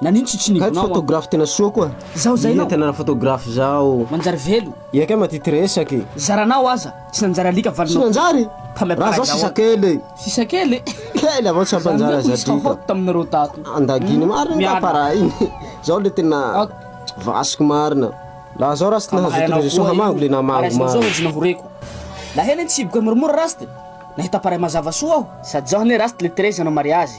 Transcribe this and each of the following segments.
Nanino tsy tsinivina Hay anao photographe tena soa koa. Zaho zay Iha nao. tena photographe zao. Manjary velo. Iha kay mba tia ty resaka e. Zaranao aza tsy nanjary alika Tsy valinao. nanjary? Fa Raha zaho sisa kely e. Sisa kely e. Kely avao tsy Zany hampanjary hoe azy police alika. hot taminareo tato. Andagino marina nga Miala. para iny. Zao le tena Ok. vasiko marina. Raha zao raha tsy nahazo Hamahanao autorisation koa hamango io. le namango Araisinao zao marina. enjona ho reko. Naheno iny tsiboka moramora Rust. Nahita pareil mazava soa aho. Sady zao anie Rust le Teresa hanao mariazy.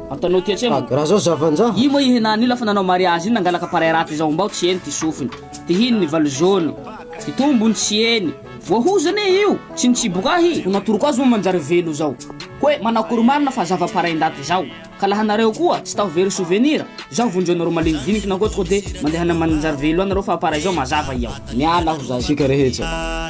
Ataonao ity hatremo. Raha zao zavanjava. Io moa i Henany io lafa nanao mariazy iny nangalaka pareil raty zao mbao tsy eny ty sofiny. Tihiny ny valo jaune. Ty tombony tsy eny. Voahozana e io. Tsy nitsiboka ahy. Ho natoroko azy moa manjary velo zao. Hoe manao akory marina fa zava pareil ndaty zao. Ka laha nareo koa tsy tao very souvenir zao vonjeo nareo malinidiniky na koa tonga de mandeha any manjary velo any nareo fa pareil zao mazava i ao. Miala aho zay. Tsika rehetsa.